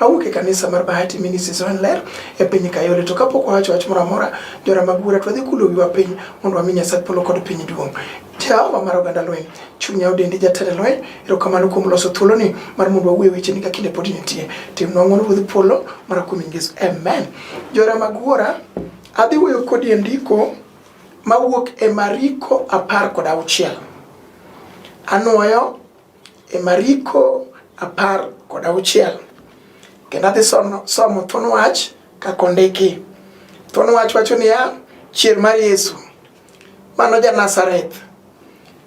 awuok e kanisa mar Bahati Ministries Online e piny Kayole. To kapok wawacho wach moro amora, jora mag bura twadhi kulo wiwa piny mondo wami Nyasaye polo kod piny duong'. Jehova mar oganda lweny, chunya odendi jatend lweny, erokamano kuom loso thuoloni mar mondo wawuo e weche ni ka kinde pod nitie. Timnwa ng'wono Ruodh polo mana kuom Yesu. Amen. Jora mag wuora, adhi wuoyo kodi e ndiko mawuok e Mariko apar kod auchiel. Anwoyo E Mariko apar kod auchiel kendo adhi somo thuon wach kaka ondiki. Thuon wach wacho niya, chier mar Yesu mano ja Nazareth.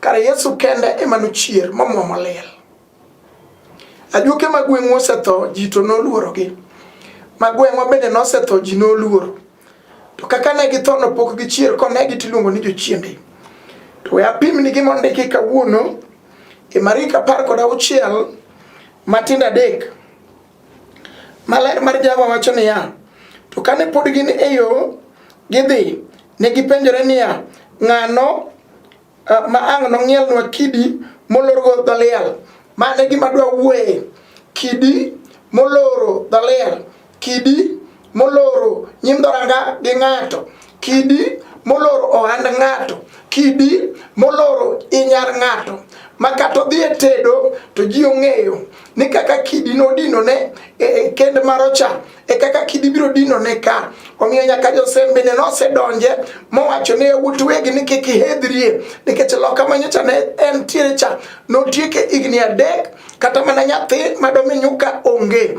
Kare Yesu kende ema nochier momwomo liel. Ajuoke ma gweng'wa osetho ji to noluorogi. Ma gweng'wa bende nosetho ji noluoro. To kaka ne githo nopok gichier konegi tiluongo ni jochiende. To we apimni gi mondiki kawuono e Marik apar kod auchiel matindo adek. Maler mar Jehova wacho niya, to kane pod gin e yo gidhi, ne gipenjore niya, ng'ano uh, ma ang' nong'ielnwa kidi molorgo dho liel mane gima dwa wuoye kidi moloro dho liel kidi moloro nyim dhoranga gi ng'ato kidi moloro ohand ng'ato kidi moloro inyar ng'ato ma kata odhi e tedo to ji ong'eyo ni kaka kidi nodinone e, e kend marocha e kaka kidi biro dinone ka omiyo nyaka josembene nosedonje mowacho ne yawuot wegi ni kik ihedhrie nikech loka manyocha ne en tiere cha notieke higni adek kata mana nyathi madomi nyuka onge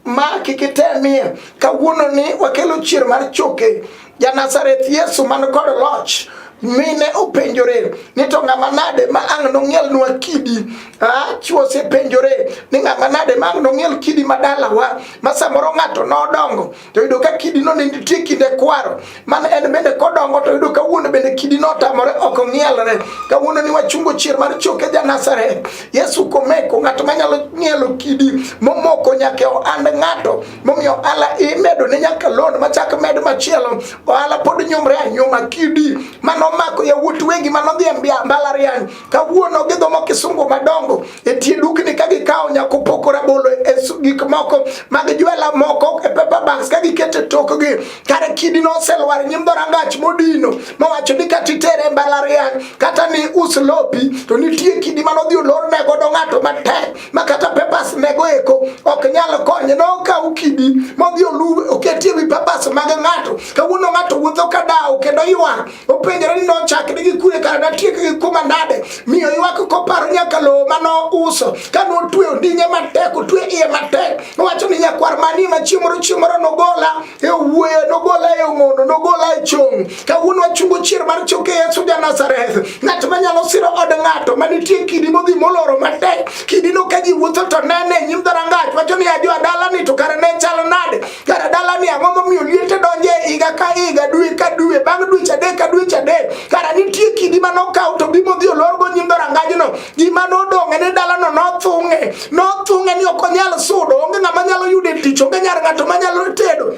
ma kik itemie kawuono ni wakelo chier mar choke Ja Nazareth Yesu man kod loch mine openjore ni to ng'ama nade ma ang' nong'ielnwa kidi ah, chwo osepenjore ni ng'ama nade ma ang' nong'iel kidi ma dalawa ma samoro ng'ato nodongo to yudo ka kidi no ne nitie kinde kwaro man en bende kodongo to yudo ka wuon bende kidi no otamore ok ong'ielre kawuono ni wachungo chier mar choke ja Nazareth Yesu komeko ng'ato manyalo ng'ielo kidi momoko nyaka ohand ng'ato momiyo ohala imedo ne nyaka loan machak med machielo ohala pod nyumre anyuma kidi manomako yawuot wegi manodhi e mbalariany kawuono gidhomo kisungu madongo e tie dukni ka gikawo nyako poko rabolo e gik moko mag jwela moko e paper bags ka gikete tokgi kare kidi noselwar nyim dhorangach modino mowacho ni kata itere e mbalariany kata ni us lopi to nitie kidi manodhi olorne godo ng'ato matek makata papers mego eko ok nyal konye nokaw kidi modhi olu oketie wi papers mag ng'ato kawuono ng'ato wuotho ka dawo kendo ywak openjore ni nochakre gi kure kara natiek gi kuma nade miyo ywak koparo nyaka lowo ma nouso ka notwe ondinye matek otwe iye matek nowacho ni nyakwar mani machiemoro chiemoro nogola e wuoyo nogola e ong'ono nogola e chong kawuono achungo chier mar choke yesu ja nazareth ng'at manyalo siro od ng'ato manitie kidi modhi moloro matek kidino ka ji wuotho to nene e nyim dharangach wacho ni ajo adalani to kare ne chal nade kare dalani ang'o momiyo liete donje e higa ka higa dwe ka dwe bang' dweche adek ka dweche adek kara nitie kidi manokaw to bimo dhi olorgo nyim dharangajno gima nodong'e ni dalano nothung'e nothung'e ni ok onyal sudo onge ng'ama nyalo yude tich onge nyar ng'ato manyalo tedo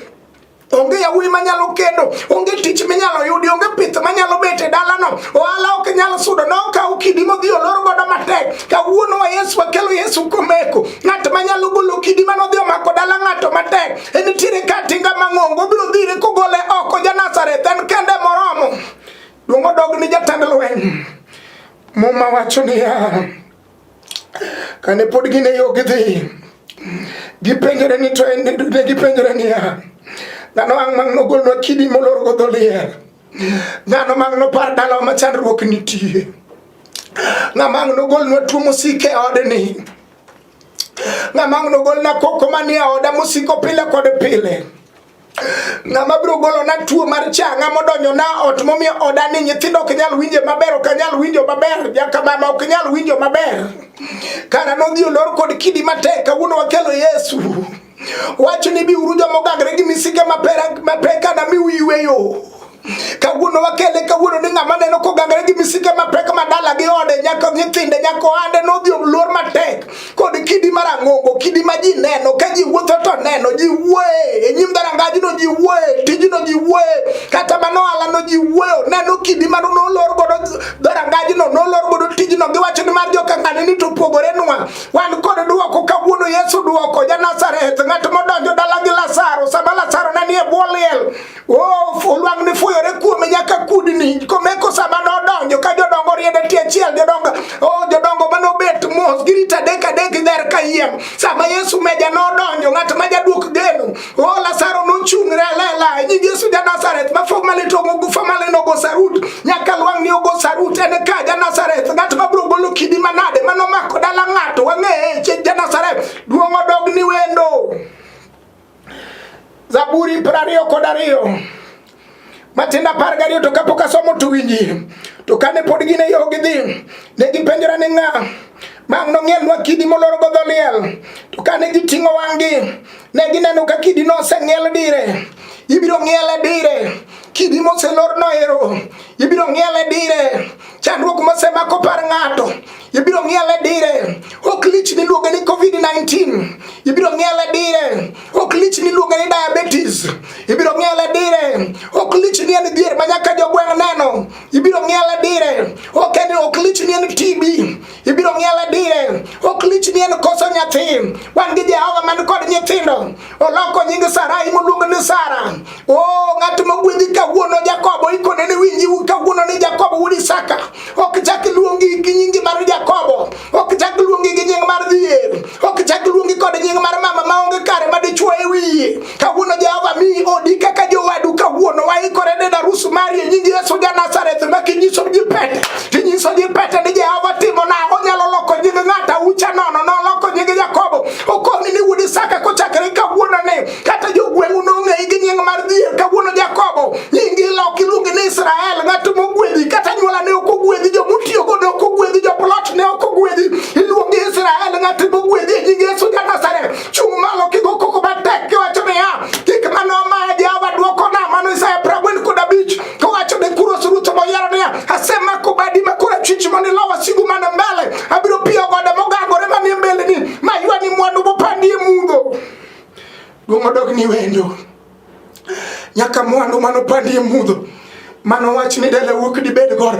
onge yawuoyi manyalo kendo onge tich minyalo yudi onge pith manyalo bet e dalano ohala ok nyal sudo nokaw kidi modhi olor godo matek kawuono wa yesu wakelo yesu komeko ng'at manyalo golo kidi manodhi omako dala ng'ato matek en nitiere ka tinga mang'ongo obiro dhire kogole oko ja nazareth en kende moromo duong' odog ni jatend lweny Muma wacho niya, kane pod gin e yo gidhi, gipenjore ni to en ne gipenjore niya, dhano ang' mang' nogolnwa kidi molor go dho liel, dhano mang' nopar dalawa ma chandruok nitie, ng'ama ang' nogolnwa tuo mosik e odni, ng'ama ang' nogolna koko manie oda mosiko pile kod pile. ng'ama biro golona tuo mar cha ng'ama odonjona ot momiyo oda ni nyithindo ok nyal winje maber ok nyal winjo maber jakamama ok nyal winjo maber kara nodhi olor kod kidi matek kawuono wakelo yesu wacho ni biuru joma ogangre gi misike mapek anamiu yweyo Kawuono wakele kawuono ni ng'ama neno kogangre gi misike mapek madala gi ode nyaka nyithinde nyaka ohande nodhi oluor matek kod kidi mar ang'ongo kidi ma ji neno ka ji wuotho to neno ji wuoye e nyim dharangajno ji wuoye tijno ji wuoye kata mano ohalano ji wuoyo neno kidi mano nolor godo dharangajno nolor godo tijno giwacho ni mar jokang'ane ni to pogore nwa wan kod dwoko kawuono Yesu dwoko ja Nazareth ng'at modonjo dala gi Lazaro sama Lazaro ne nie bwo liel Oh, olwang ne fuyore kuome nyaka kudni komeko sama nodonjo ka jodongo riede tie achiel jodongo oh, jodongo mane obet mos girito adek adek ler ka yiem sama yesu meja nodonjo ng'at ma jaduok geno o oh, lasaro nochung're alela nying yesu ja nazareth ma fog male to ogufa male nogo sarut nyaka lwang ni ogo sarut en ka ja nazareth ng'at ma biro golo kidi manade manomako dala ng'ato wang'eye ja nazareth duong' odog ni wendo Zaburi piero ariyo kod ariyo matinda apar gariyo to kapok asomo to winji to kane pod gin e yo gidhi ne gipenjora ni ng'a mang' nong'ielnwa kidi molor godho liel to kane giting'o wang'gi ne gineno ka kidi noseng'iel dire ibiro ng'iele dire kidi moselor noero ibiro ng'iele dire Chandruok mosemako par ng'ato ibiro ng'iele dire, ok lich miluongo ni COVID-19 ibiro ng'iele dire, ok lich miluongo ni diabetes ibiro ng'iele dire, ok lich ni en dhier ma nyaka jogweng' neno ibiro ng'iele dire, ok en ok lich ni en TB ibiro ng'iel adire ok lich ni en koso nyathi wan gi jehova man kod nyithindo oloko nying sarai moluongo ni sara o ng'at mogwedhi kawuono jakobo ikone ni winji kawuono ni jakobo wuod isaka ok chak luongi gi nyingi mar jakobo ok chak luongi gi nying mar dhier ok chak luongi kod nying mar mama maonge kare ma dichwo e wiye Kawuono Jehova miyi odi kaka jowadu kawuono waikore ne darus mari e nying Yesu ja Nazareth ma kinyiso ji pete kinyiso ji pete ni Jehova timo na onyalo loko nying ng'ata ucha nono noloko nying Jakobo okomi ni wuod Isaka kochakre kawuono ne kata jogweng'u nong'eyi gi nying mar dhier kawuono Jakobo nyingi lok iluongi ni Israel ng'at mogwedhi kata nyuola ne ok ogwedhi jo mutiyogo ne ok ogwedhi jo plot ne ok ogwedhi iluongi Israel ng'at mogwedhi e nying Yesu ja Nazareth Chung' malo kigo koko matek kiwacho niya, gik mane omaya Jehova dwokona, mano Isaya piero ang'wen kod abich, kowacho ne Kuros ruoth moyiero niya, asemako badi ma korachwich mondo ilo wasigu man mbele, abiro piyo gode mogangore manie mbeleni, maywani mwandu mopandi e mudho. Duong' odog ni wendo. nyaka mwandu mano pandi e mudho mano wach ni dele wuok dibed gor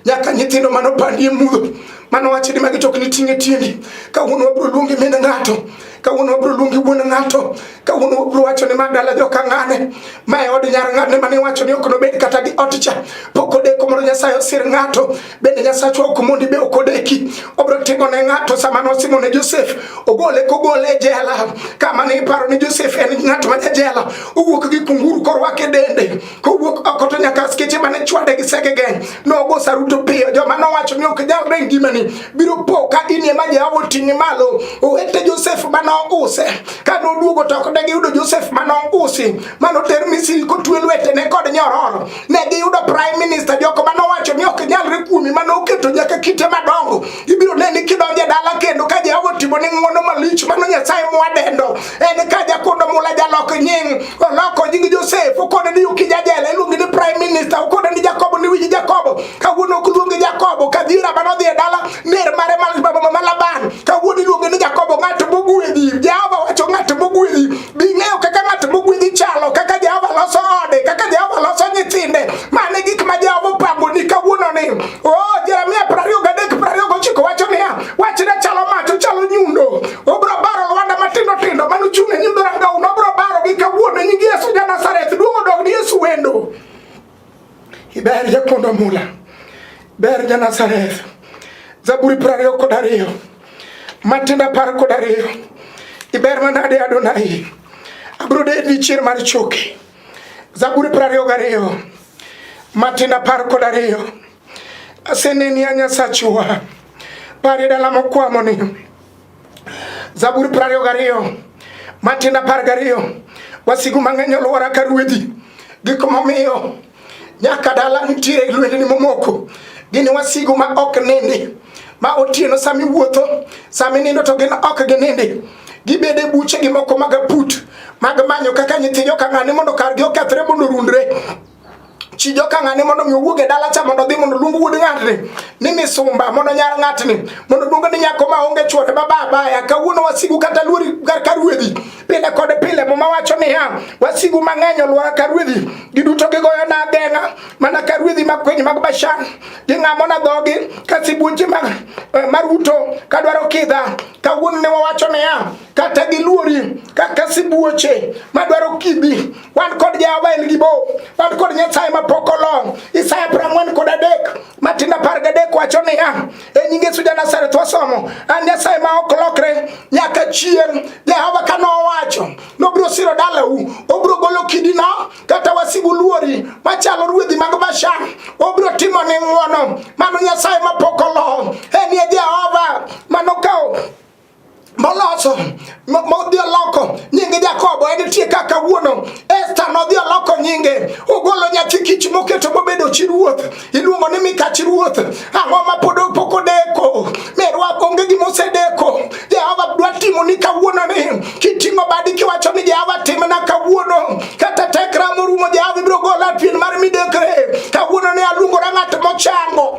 nyaka nyithindo mano pandi e mudho mano wach ni magi tok ni tinge tiendi kawuono wabro luongi min ng'ato kawuono wabro luongi wuon ng'ato kawuono wabro wacho ni ma dala joka ng'ane ma e od nyar ng'ane mane wacho ni ok nobed kata gi ot cha pok odeko mondo nyasaye osir ng'ato bende Nyasacho ok mondi be ok odeki obro timo ne ng'ato sama nosimo ne Josef ogole kogole e jela kama ne iparo ni Josef en ng'at ma jela owuok gi kunguru korwake dende kowuok oko to nyaka skeche mane chwade gi seke geng nogo saruto piyo joma nowacho ni ok nyal reng gimani biro po ka in ema Jehova oting'i malo owete Josef mane ouse ka noduogo to ok degiyudo Josef mane ousi mano ter Misri kotwe lwetene kod nyororo ne giyudo prime minister joko mane owacho ni ok nyalre kuomi mane oketo nyaka kite madongo ibiro neni kidonje dala kendo ka jehova otimo ni ng'wono malich mano nyasaye mwadendo en ka jakodo mula jalok nying oloko nying josef okone ni yuki jajela iluongi ni prime minister okone ni jakobo ni wiji jakobo kawuono ok luongi jakobo kadhira mane odhi e dala ner mare mama laban kawuono iluonge ni jakobo ng'at mogwedhi jehova wacho ng'at mogwedhi Bing'eyo kaka ng'at mogwedhi chalo, kaka Jehova loso ode, kaka Jehova loso nyithinde. Mane gik ma Jehova opango ni kawuono ni. Oh, Jeremia 23 29 wacho niya, wachne chalo mach, ochalo nyundo. Obro baro lwanda matindo tindo mano chung' e nyundo rangau, nobro baro gi kawuono nyingi Yesu ja Nazareth, duong' odog ni Yesu wendo. Iber jakondo mula. Ber ja Nazareth. Zaburi piero ariyo kod ariyo. Matinda apar kod ariyo. Iber manade Adonai. Abiro dedi chier mar choki. Zaburi piero ariyo gariyo. Matinda apar kod ariyo. Aseneni a Nyasachwa. Pari dala mokwamoni. Zaburi prario gario matin apar gario wasigu mang'eny olwora ka ruedhi gik momiyo nyaka dala nitiere lwendni momoko gini wasigu ma ok nindi ma otieno sama iwuotho sama inindo to gin ok ginindi gibede e buche gi moko mag aput mag manyo kaka nyithijo ka ng'ani mondo kargi okethre mondo orundre chi joka ng'ane mondo mi owuog e dala cha mondo odhi mondo luong wuod ng'atni ni misumba mondo nyar ng'atni mondo luong ni nyako ma onge chwore ma babaya kawuono wasigu kata luori kar ka ruedhi pile kod pile muma wacho niya wasigu mang'eny olwora ka ruedhi giduto gigoyo na ageng'a mana ka ruedhi mag kwiny mag bashan ging'amo na dhogi ka sibuoche mag eh, maruto kadwaro kidha kawuono ne wawacho niya kata giluori kaka sibuoche madwaro kidhi wan kod Jehova en gi bo, wan kod Nyasaye ma pok olong. Isaya prang'wen kod adek matinda par gadek wacho niya, e nying Yesu Janazareth wasomo, an Nyasaye ma ok lokre nyaka chieng'. Jehova ka nowacho nobiro siro dalau, obiro golo kidino kata wasigu luori machalo ruedhi mag Bashan, obiro timo ni ng'wono. Mano Nyasaye ma pok olong, en ye Jehova manokawo moloso modhi oloko nyinge Jakobo en tie kaka wuono Esta nodhi oloko nyinge ogolo nyathi kich moketo mobedo chi ruoth iluongo ni Mika chi ruoth ang'o ma pod pok odeko merwa onge gima osedeko Jehova dwa timo ni kawuono ni kiting'o badi kiwacho ni Jehova timna kawuono kata tekra morumo Jehova ibiro gola pien mar midekre kawuono ni aluongora ng'at mochango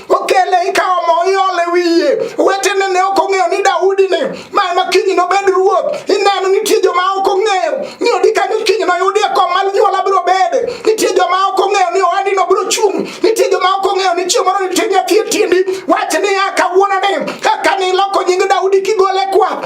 okele ikawo mo iole wiye wetene ne ok ong'eyo ni daudi ni ma ema kiny nobed ruoth ineno nitie joma ok ong'eyo ni odi kanyo kiny noyudie kom mar nyuola biro bede nitie joma ok ong'eyo ni oadi no biro chung' nitie joma ok ong'eyo ni chieng' moro nitie nyathi e tindi wach niya kawuono ni kaka niloko nying daudi kigole kwath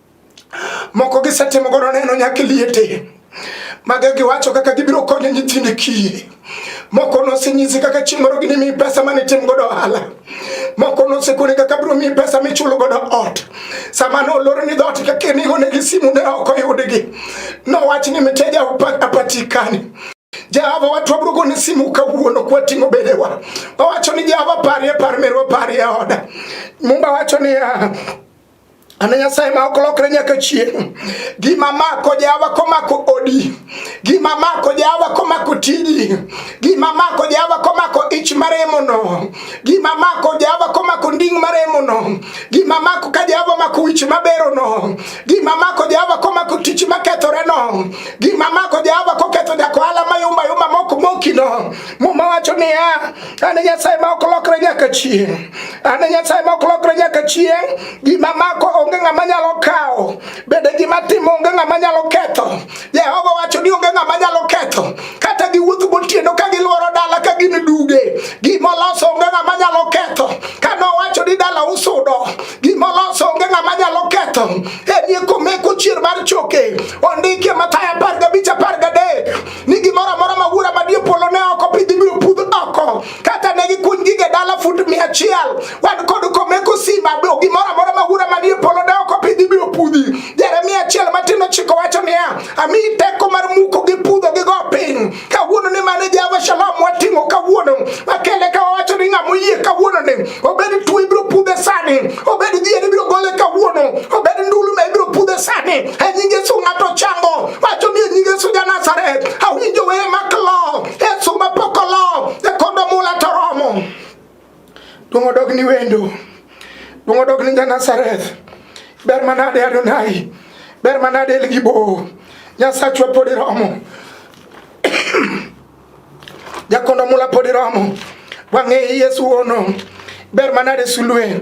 Moko gisetimo godo neno nyaka liete. Maga giwacho kaka gibiro konyo nyithinde kiye. Moko nosenyisi kaka chieng' moro ginimiyi pesa mane itim godo ohala. Moko nosekoni kaka biro miyi pesa michulo godo ot. Sama nolor ni dhoot kaka nigo ne gi simu ne ok oyudgi. Nowach ni mteja apatikani. Jehova watu wabrogo ni simu kawuono kwating'o bedewa. Wawacho ni Jehova parie par merwa parie oda. Mumba wacho ni uh, Ana Nyasaye ma ok lokre nyaka chieng'. Gima mako jawa komako odi, gima mako jawa komako tiji, gima mako jawa komako ich maremono, gima mako jawa komako nding' maremono, gima mako ka jawa mako wich maberono, gima mako jawa komako tich makethoreno, gima mako jawa koketho jakohala mayumbayuma mok mokino. Muma wacho niya Ane Nyasaye ma ok lokre nyaka chieng'. Ane Nyasaye ma ok lokre nyaka chieng'. Gima mako onge ng'ama nyalo kawo. Bende gima timo onge ng'ama nyalo ketho. Jehova wacho ni onge ng'ama nyalo ketho. Kata giwuotho gotieno ka gilworo dala ka gin duge. Gima oloso onge ng'ama nyalo ketho. Ka nowacho ni dala usudo. Gima oloso onge ng'ama nyalo ketho. Enie komeko chier mar choke. Ondike Mathayo apar gabich apar gadek. ni gimoro amora ma wuora madie polo ne oko pidhi biro pudh oko kata ne gikuny gige dala fut mia achiel wan kod komeko simba gimoro amora ma wuora madie polo ne oko pidhi biro pudhi jeremia achiel matin ochiko wacho niya amiyi teko mar muko gi pudho gi go piny kawuono ni mane java shalom wating'o kawuono makele ka wawacho ni ng'ama oyie kawuono ni obed tuo ibiro pudhe sani obed dhier ibiro gole kawuono obed ndulume ibiro pudhe sani e nying yesu ng'ato chango wacho ni e nying yesu ja nazaret awinjo weye mak lo yesu mapok olo e kondo mula to romo duong' odog ni wendo duong' odog ni ja nazaret ber manade adonai ber manade elgibo nyasachwa pod iromo jakondo mula podi romo wang'e yesu wono ber manade sulwe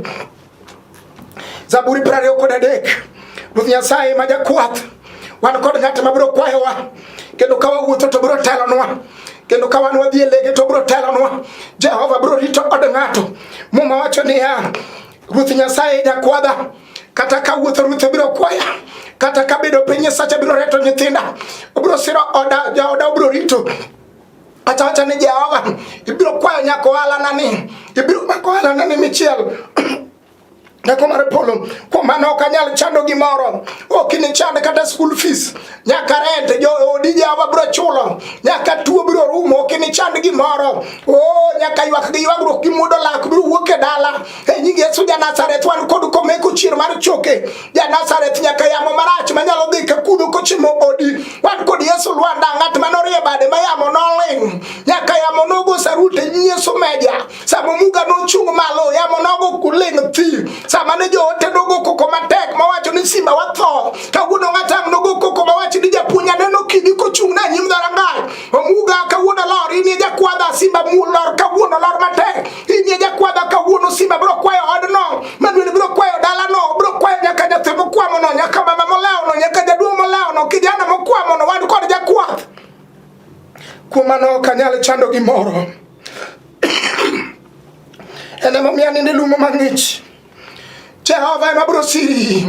zaburi piero ariyo kod adek ruoth nyasaye ma jakwath wan kod ng'at ma biro kwayowa kendo ka wawuotho to biro telonwa kendo ka wan wadhi e lege to biro telonwa jehova biro rito od ng'ato muma wacho niya Ruoth Nyasaye jakwadha kata ka wuotho ruoth obiro kwaya kata ka bedo piny Nyasacha biro reto nyithinda obiro siro oda jaoda obiro rito kata wacha ni Jehova ibiro kwayo nyako ohalana ni ibiro mako ohalana ni michiel Nyako mar polo, kuom mano ok anyal chando gimoro, ok inichand kata school fees, nyaka rent joodije awa biro chulo nyaka tuo biro rumo ok inichand gimoro o nyaka ywak gi ywagruok gi mudo lak biro wuok e dala e nying yesu janazareth wan kod komeko chier mar choke janazareth nyaka yamo marach manyalo dhi kakudo kochimo odi wan kod yesu lwanda ng'at manorie bade ma yamo noling nyaka yamo nogo sarute nying yesu meja sama muga nochung' malo yamo nogo kuling' thi sama ne joote nogo koko matek mawacho ni simba watho kawuono ng'atang' nogo koko mawacho ni japuonj aneno kidi kochung' na nyim dharangai omuga kawuono lor inie jakwadha simba mulor kawuono lor matek inie jakwadha kawuono simba biro kwayo odno maduel biro kwayo dalano biro kwayo nyaka nyathi mokwamono nyaka mama molewono nyaka jaduong' molewono kijana mokwamono wan kod jakwath kuom mano ok anyal chando gimoro Ene momiyo aninde lumo mang'ich. Jehova ema biro siri.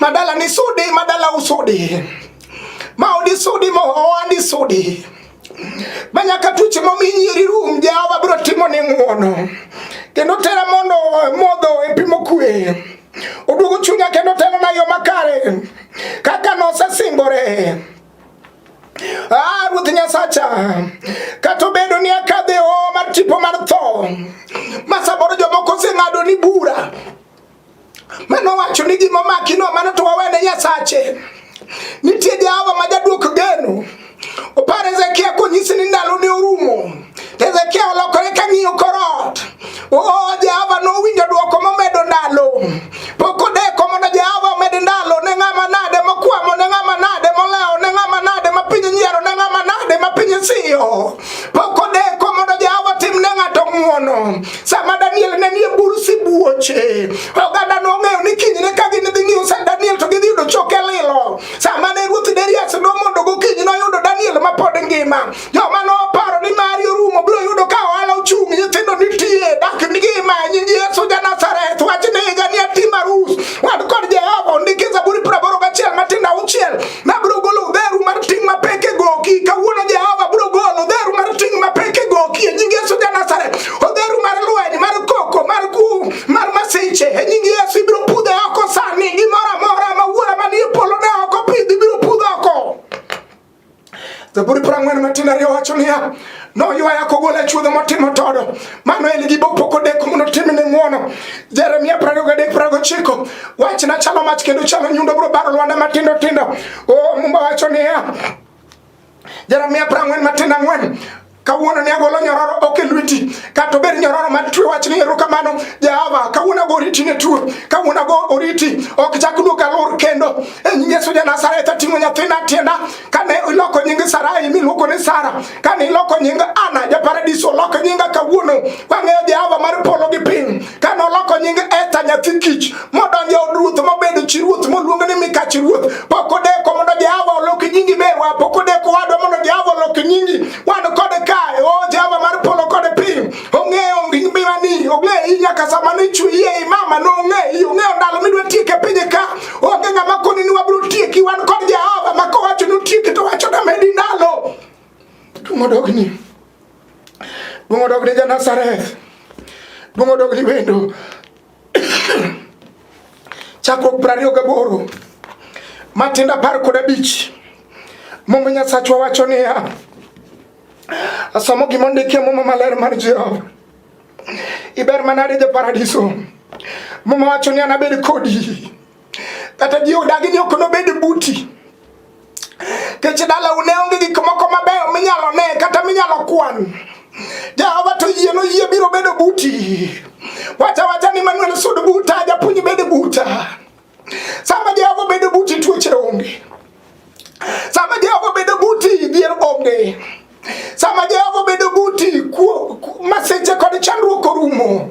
Madala ni sudi, madala usudi. Maodi sudi, maoandi sudi. Manyaka tuche momi nyiri rum, Jehova biro timo ni ng'uono. Kendo tera mondo modho e pimo kwe. Oduogo chunya kendo telo na yo makare. Kaka nosesingore. Ah, Ruoth Nyasacha, kata obedo ni akadhe o mar tipo mar tho, ma samoro jomoko oseng'ado ni bura, mano wacho ni gima omaki no mano to wawene Nyasache. Nitie Jehova ma jaduok geno. Opar Hezekia konyisi ni ndalo ne orumo. Hezekia olokore ka ng'iyo korot. Oh, Jehova nowinjo dwoko momedo ndalo. Pok odeko mondo Jehova omed ndalo ne ng'ama nade mokwamo, ne ng'ama nade molewo, ne ng'ama nade ma piny nyiero, ne ng'ama nade ma piny siyo. Pok odeko mondo Jehova tim ne ng'ato ng'wono. Sama Daniel ne nie bur sibuoche, oganda nong'eyo ni kinyne ka gin dhi ng'iyo sa Daniel to gidhi yudo choke lilo. Sama ne ruoth Darius nomondo gokinyi noyudo Daniel ma pod ngima. Joma noparo ni mari orumo biro yudo ka ohala ochung', nyithindo nitie, dak ngima, nying Yesu ja Nazareth, wach ni higa ni atim arus. Wan kod Jehova ondiki Zaburi piero aboro gachiel matindo auchiel, nabiro golo udheru mar ting' mapek e goki. Kawuono Jehova biro golo udheru mar ting' mapek e goki, e nying Yesu ja Nazareth. Odheru mar lweny, mar koko, mar kum, mar masiche, e nying Yesu ibiro pudhe oko sani, gimoro amora ma wuora manie polo ne ok opidhi biro pudho oko. Zaburi piero ang'wen matin ariyo wacho niya, noywaya kogolo e chuodho motimo todo, mano en gi bopok odeko mondo otimne ng'wono. Jeremia piero ariyo gadek piero gochiko, wachna chalo mach kendo chalo nyundo biro baro lwanda matindo tindo. O Mumba wacho niya, Jeremia piero ang'wen matin ang'wen Kawuono ne agolo nyororo ok e lweti, kata obed nyororo ma twe wach ni erokamano Jehova. Kawuono ago oriti ne tuo, kawuono ago oriti ok chak duog alor kendo. E nying Yesu ja Nazareth ating'o nyathina tienda kane iloko nying Sarai miluongo ni Sara, kane iloko nying Ana ja paradiso oloko nyinga kawuono. Wang'eyo Jehova mar polo gi piny, kane oloko nying Esther nyathi kich modonjo od ruoth mobedo chi ruoth moluongo ni mikach ruoth pok odeko mondo jehova olok nyingi merwa pok odeko wadwa mondo jehova olok nyingi wan kode kae o oh, jehova mar polo kode piny ong'eyo ngimani ong'eyo iyi nyaka sama nichweye i mama nong'eyi ong'eyo ndalo midwa tieke pinye ka onge ng'ama koni ni wabiro tieki wan kod jehova ma kowacho ni utieki to wacho na medi ndalo duong' odogni duong' odogni ja nazareth duong' odogni wendo chakruok piero ariyo gaboro matindo apar kod abich Muma Nyasachwa wacho niya, asomo gima ondikie Muma maler mar Jehova, iber manade ja paradiso. Muma wacho ni anabed kodi kata ji odagi ni ok nobed buti kech dala une onge gik moko mabeyo minyalo ne kata minyalo kwan jehova to yie noyie biro bedo buti wacha wacha ni manuel sud buta japuonj bed buta sama jehova bedo buti tuoche onge sama jehova bedo buti dhier onge sama jehova bedo buti maseche kod chandruok orumo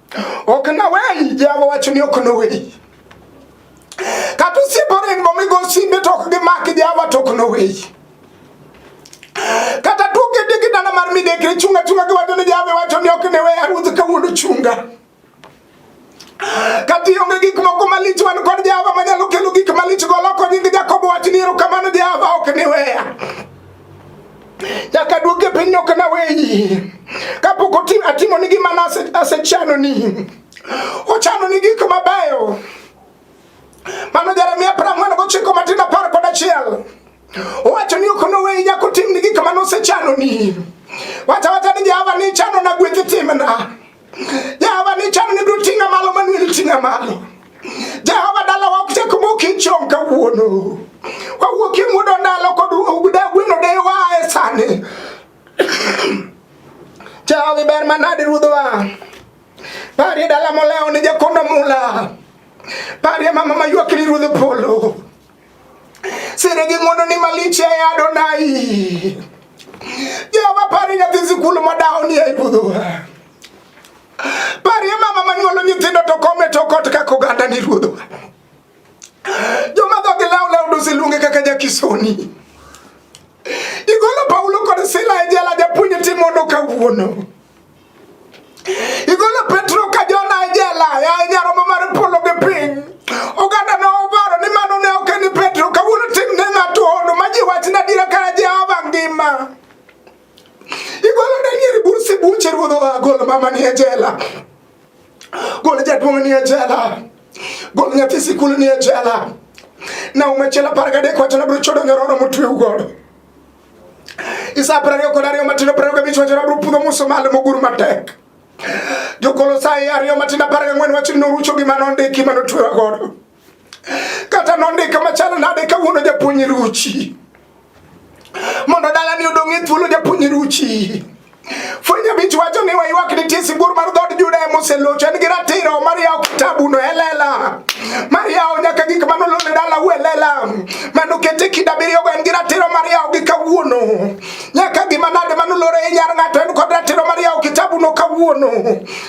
okna weyi jehova wacho ni okno weyi kata osiepe oringo migo simbe to ok gimaki jehova to okno weyi kata tukedigi dala mar midekre chunga chunga giwacho ni jehova wacho ni ok ne weya ruoth kawuono chunga kata ionge gik moko malich wan kod jehova manyalo kelo gik malich goloko nying jakobo wach ni erokamano jehova ok ni weya nyaka duogi e pinyno ok naweyi kapok atimo ni gima nasechano ni ochano ni gik mabeyo mano Jeremia apar ang'wen gochiko matin apar kod achiel owacho ni ok noweyi nyaka otim ni gik mane osechano ni wacha wacha ni Jehova ni chano na gweth timna Jehova ni chano ni dutinga malo manu ni tinga malo. Jehova dala wa kuse kumu kichon ka uono. Wa uoki mudo ndalo kodu ugude wino de wa esane. Jehova iber manadi rudhwa. Pari dala moleo ni jakondo mula. Pari mama mayuakiri rudhwa polo. Siri gi ng'wono ni malich e Adonai. Jehova pari nyathi sikul modawo ni e puodho. Parie mama manyuolo nyithindo to kome to kot kaka oganda ni ruodho. Joma dhogi law law dosiluonge kaka jakisoni. Igolo Paulo kod Sila e jela japuonj timono kawuono. Igolo Petro ka Jona e jela, ya nyaromo mar polo gi piny. Oganda no obaro ni mano ne ok en Petro, kawuono tim ne ng'ato hono ma ji wachna dira ka Jehova ngima. Igolo Daniel Bursi Buche ruodh oa gol mama ni e jela. Gol jaduong' ni e jela. Gol nyathi sikul ni e jela. Na umechela parga dek wachana bro chodo nyororo mutwe ugodo. Isa apar ariyo kod ariyo matindo apar ariyo gabich wacho nabiro pudho muso malo mogur matek. Jokolosai ariyo matindo apar gang'wen wacho ni norucho gima nondiki ma notwewa godo. Kata nondika machalo nade kawuono japuonj ruchi. Mondo dalani odong' e thuolo japuonj ruchi. Fwenye bichu wacho ni waywak ni tisi bur mar dhod Juda e mose locho en gi ratiro mar yawo kitabu no elela mar yawo nyaka gik mano lone dala u elela mano kete kida biriyo go en gi ratiro mar yawo gi kawuono nyaka gima nade mano lore e nyar ng'ato en kod ratiro mar yawo kitabu no kawuono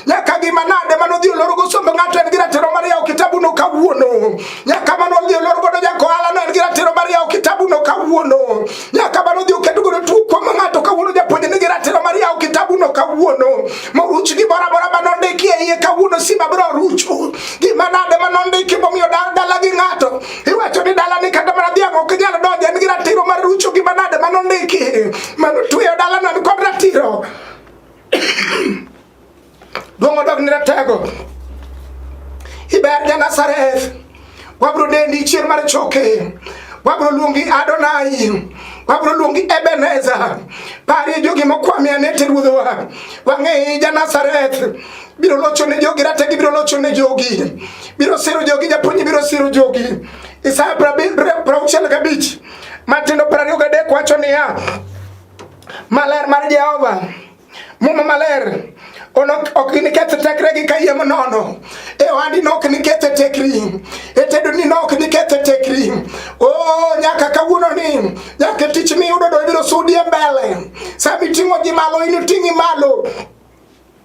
nyaka gima nade mano dhi oloro go sombe ng'ato en gi ratiro mar yawo kitabu no kawuono nyaka mano dhi oloro go jakohala no en gi ratiro mar yawo kitabu no kawuono nyaka bano odhi oketo godo tuo kuom ng'ato kawuono japuonj nigi ratiro mar yawo kitabuno kawuono moruch gi bora bora bano ndiki e iye kawuono simba biro rucho gima nade ma nondiki momiyo dala gi ng'ato iwacho ni dala ni kata mana dhiang' ok nyal donjo en gi ratiro mar rucho gima nade ma nondiki mano tueyo dalano ni kod ratiro Dongo dok ni ratego. Iber ja Nazareth. Wabro dendi chier mar choke. Wabro luongi Adonai. Wabro luongi Ebenezer. Pari jogi mokwami anete ruodhowa. Wang'e ja Nazareth. Biro locho ne jogi rategi biro locho ne jogi. Biro siro jogi japuonj biro siro jogi. Isaya prauchiel gabich. Matindo prariyo gadek wacho niya. Maler mar Jehova. Muma maler ok iniketh tekregi ka yie manono e ohandi nok niketh tekri e tedoni nok niketh tekri o oh, nyaka kawuononi nyaka tich miyudo do ibiro sudi e mbele sami ting'o ji malo initing'i malo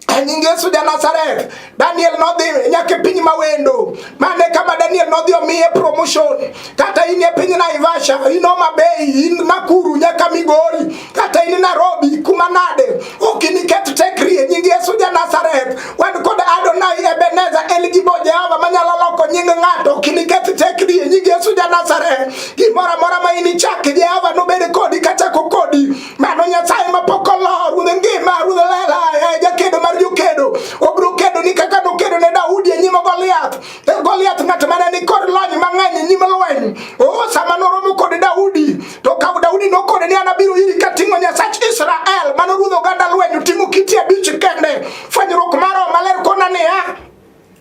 e nying Yesu ja Nazareth Daniel nodhi nyaka e piny mawendo. Mane kama Daniel nodhi omiye promotion. Kata in e piny Naivasha, in Homa Bay, in Nakuru nyaka Migori, kata in Nairobi kuma nade. Ok iniket tekri e nying Yesu ja Nazareth. Wan kod Adonai Ebenezer El Gibo Jehova manyalo loko nying ng'ato. Ok iniket tekri e nying Yesu ja Nazareth. Gimoro amora ma inichak Jehova nobed kodi kachako kodi. Mano Nyasaye ma pok olor, ruodh ngima, ruodh lela, eh, jakedo mar jokedo. Obiro kedo ni kaka nokedo ne Daudi e nyim Goliath. E Goliath ng'at mane ni kod lony mang'eny e nyim lweny. Oh, sama noromo kod Daudi, to ka Daudi nokone ni an abiro iri kating'o Nyasach Israel, mano ruodh oganda lweny oting'o kiti abich kende. Fwenyruok maro maler kona niya,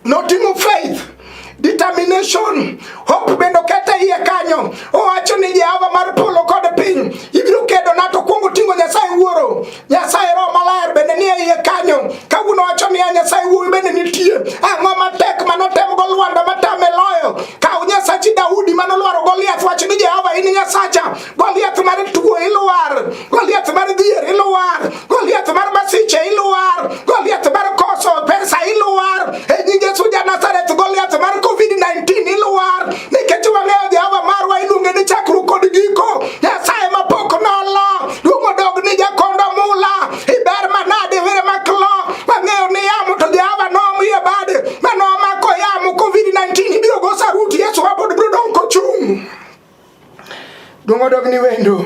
Noting'o faith determination hope bende okete iye kanyo owacho ni jehova mar polo kod piny ibiro kedo nato kuongo ting'o nyasaye wuoro nyasaye roho maler bende nie iye kanyo kawuono wacho niya nyasaye wuowi bende nitie ang'o matek manotemgo lwanda matame loyo kaw nyasachi daudi manolwaro goliath wach ni jehova in nyasacha Goliath mar tuo iluar, Goliath mar dhier iluar, Goliath mar masiche iluar, Goliath mar koso pesa iluar. E nying Yesu ja Nazareth, Goliath mar COVID-19 iluar. Nikech wang'eyo Jehova marwa iluonge ni chakruok kod giko. Nyasaye mapok nolo, duong' odog ni jakondo mula. Iber manade were maklo, wang'eyo ni yamo to Jehova nomiye bade. Mano omako yamo COVID-19 ibiro go saruti Yesu wabod biro dong' kochung'. Dongo dog ni wendo.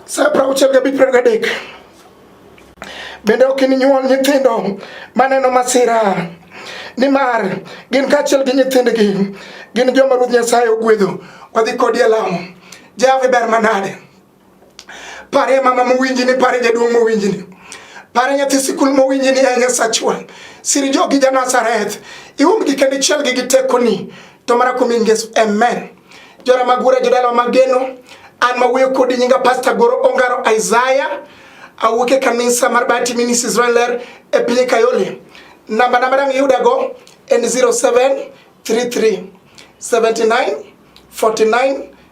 Sa prauchiel ga bipre ga dek. Bende ok ininyuol nyithindo maneno masira. Nimar gin kaachiel gi nyithindgi gin joma Ruoth Nyasaye ogwedho. Wadhi kodi e lamo. Jehova ber manade. Pare mama mowinji ni, pare jaduong' mowinji ni, pare nyathi sikul mowinji ni, e Nyasachwa, siri jogi ja Nazareth, iumgi kendo ichielgi gi tekoni, to mara kuom nying Yesu, amen. Jora magura jodala mageno, an mawuoyo kodi nyinga Pastor Goro Ongaro Isaiah, awuok e kanisa mar Bahati Ministries Israel e piny Kayole. Namba namba dang' iyudago en 0733 79 49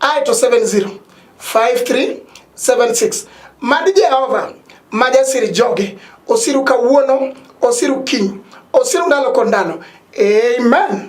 aye to 70 5376 mad Jehova ma jasir joge osiru kawuono osiru kiny osiru ndalo kod ndalo amen